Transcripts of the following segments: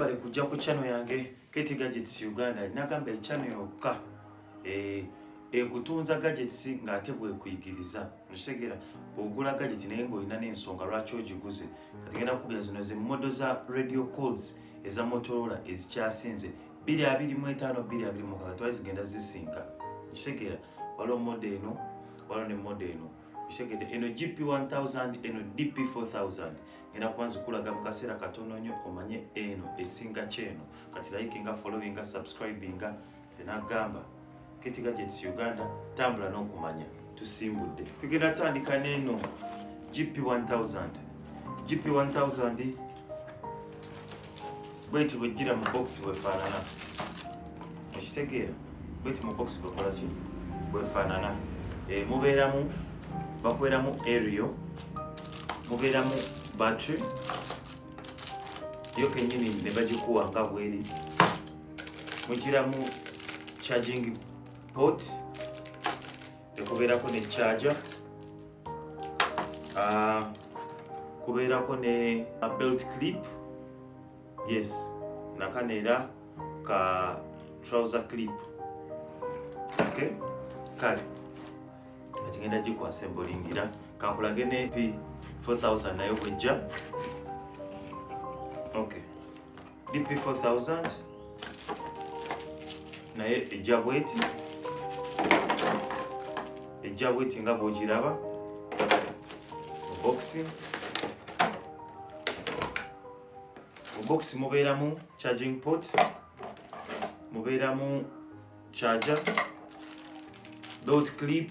bale kujja ku channel yange Katie Gadgets Uganda nagamba channel yokka eh ekutunza gadgets nga ate bwe kuyigiriza nshegera ogula gadget naye ngo ina nensonga lwacho ogiguze kati genda kubya zino ze model za radio calls eza Motorola ezikyasinze 225 225 twazigenda zisinka nshegera walo model eno walo ne model eno kitegede eno gp 1000 eno dp 4000 ngenda kuba nzikulaga mu kaseera katono nnyo omanye eno esinga kyeno kati layike nga following nga subscribing nga zenagamba ketiga jets uganda tambula n'okumanya tusimbudde tugenda tandika neeno gp 1000 gp 1000 bweti bwejjira mu box bwefaanana ekitegeera bweti mu box bwekolaki bwefaanana eh, mubeeramu bakweramu ario mubeeramu battery yo kenyini ne bagikuwa nga bweri mugiramu charging port tekubeerako ne charge ah, kubeerako ne belt clip yes nakano era ka trouser clip okay kale kati ngenda gikwasa embolingira kankulage ne p 4000 nayo bwejja okay DP 4000 naye ejja bweti ejja bweti nga bwogiraba bokisi bokisi mubeeramu charging port mubeeramu charger belt clip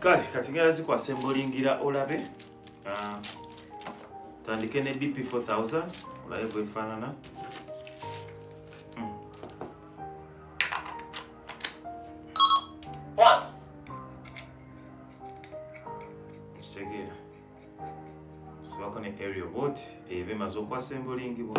kale kati ngera zikwasa embolingira olabe ah, tandike ne dp 4000 olabe bwefaanana bimaze okwasa embolingibwa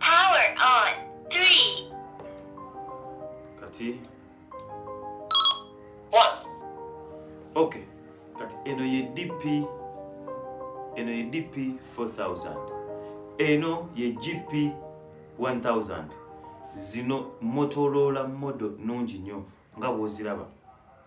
Power on. Three. kati One. okay kati eno ye dp eno ye dp 4000 eno ye gp 1000 zino motorola modo nungi nnyo nga bwoziraba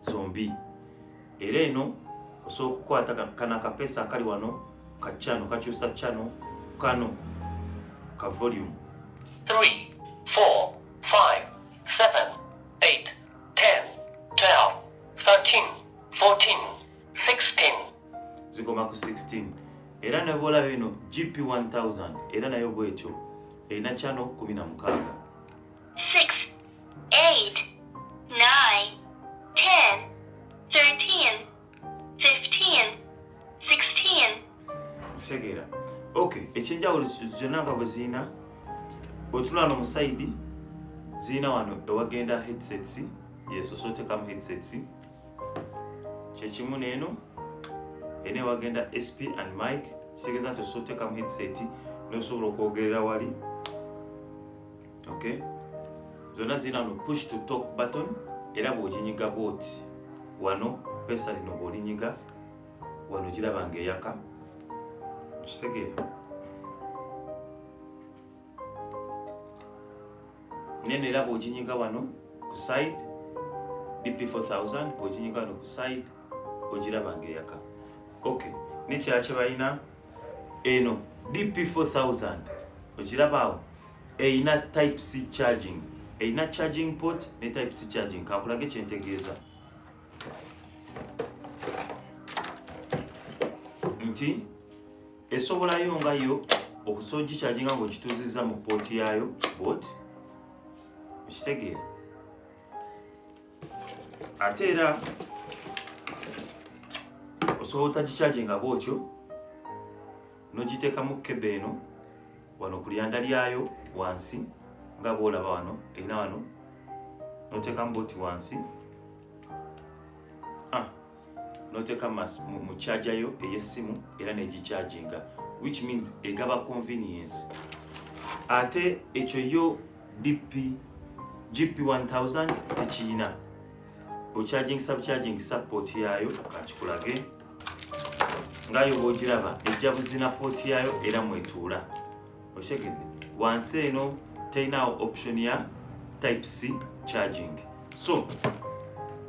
zombi era eno osobola okukwata kana akapesa akali wano ka chano kakyusa chano kano ka volume zigoma ku 16 era nebwola bino gp 1000 era nayo bwekyo erina chano 16 eight, nine, ten, thirteen, fifteen, sixteen. Segera. Okay, ekyenjawulo zonna nga bwe zirina bwetulana omusayidi zirina wano ewagenda headsets yeso so otekamu headsets kyekimu neeno ena ewagenda sp and mike kitegeeza nti osobola otekamu headset nosobola okwogerera wali okay zonna zirina no push to talk button era bwoginyiga bwoti wano pesa lino bwolinyiga wano giraba nga eyaka okitegeera neno era bwoginyiga wano ku side dp 4000 bwoginyiga wano ku side ogiraba nga eyaka ok nekyala kyebalina eno dp 4000 ogirabaawo erina type c charging erina charging port ne type c charging kakulage kyentegeeza nti esobolayo nga yo okusobola ogikyajinga ngaokituuzizza mu pooti yaayo bot okitegeera ate era osobola otagikyajinga bwotyo nogiteekamu kebe eno wano ku lyanda lyayo wansi nga bwolaba wano erina wano noteekamu boti wansi ah, noteeka mu kyajayo ey'essimu era negikyajinga which means egaba convenience ate ekyo yo dp gp 1000 tekiyina okyajingisa bukyajingisa poti yayo kakikulage ngayo bwogiraba ejja buzina pooti yaayo era mwetuula okitegedde wansi eno terinawo option ya type c charging so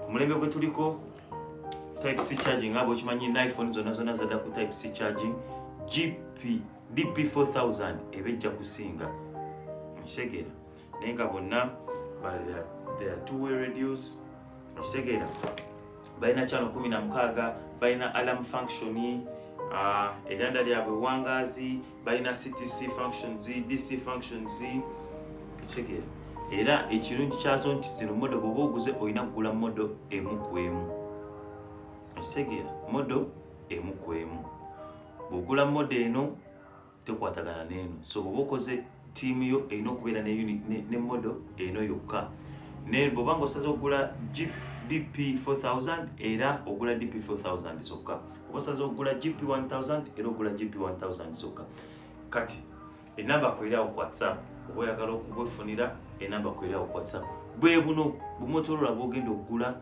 omulembe gwe tuliko type c charging nga bwekimanyi niphone zonna zonna zadda ku type c charging gp dp 4000 eba ejja kusinga nkitegera naye nga bonna there are two way radios okitegeera balina channel kumi na mukaaga balina alarm function uh, eranda lyabwe wangaazi balina ctc functions dc functions ekitegeera era ekirungi kyazo nti zino modo bwoba oguze olina kugula modo emu ku emu okitegeera modo emu ku emu bwogula modo eno tekwatagana neeno so bwoba okoze tiimu yo erina okubeera ne modo eno yokka naye bwoba nga osaze okugula jeep dp 4000 era ogula dp 4000 zokka oba osaze okugula gp 1000 era ogula gp 1000 zokka kati enamba kwerawo ku whatsapp oba oyagala okubwefunira enamba kwerawo ku whatsapp bwebuno bumotolola bwogenda okugula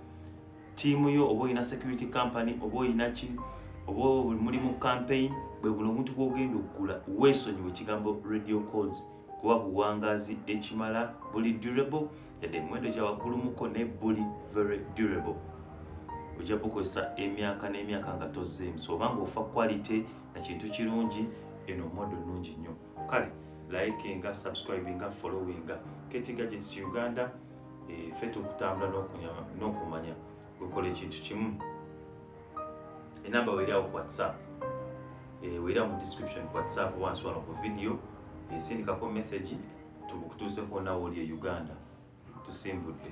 tiimu yo oba olina security company oba olina ki oba muli mu campaign bwe buno omuntu bwogenda okugula weesonyiwa ekigambo radio calls kuba buwangazi ekimala buli durable yadde emiwendo gya waggulumuko ne buli very durable ojja bukozesa emyaka n'emyaka nga tozzeemu so obanga ofa quality na kintu kirungi eno modo nnungi nnyo kale like nga subscribe nga followinga ketigadgets uganda eh, feta okutambula n'okunyama n'okumanya wekola ekintu kimu enamba weri awo ku whatsapp eh, weri awo mu description ku whatsapp wansi wano ku video esindikako eh, message tukutuuseko nawe oli e uganda tusimbudde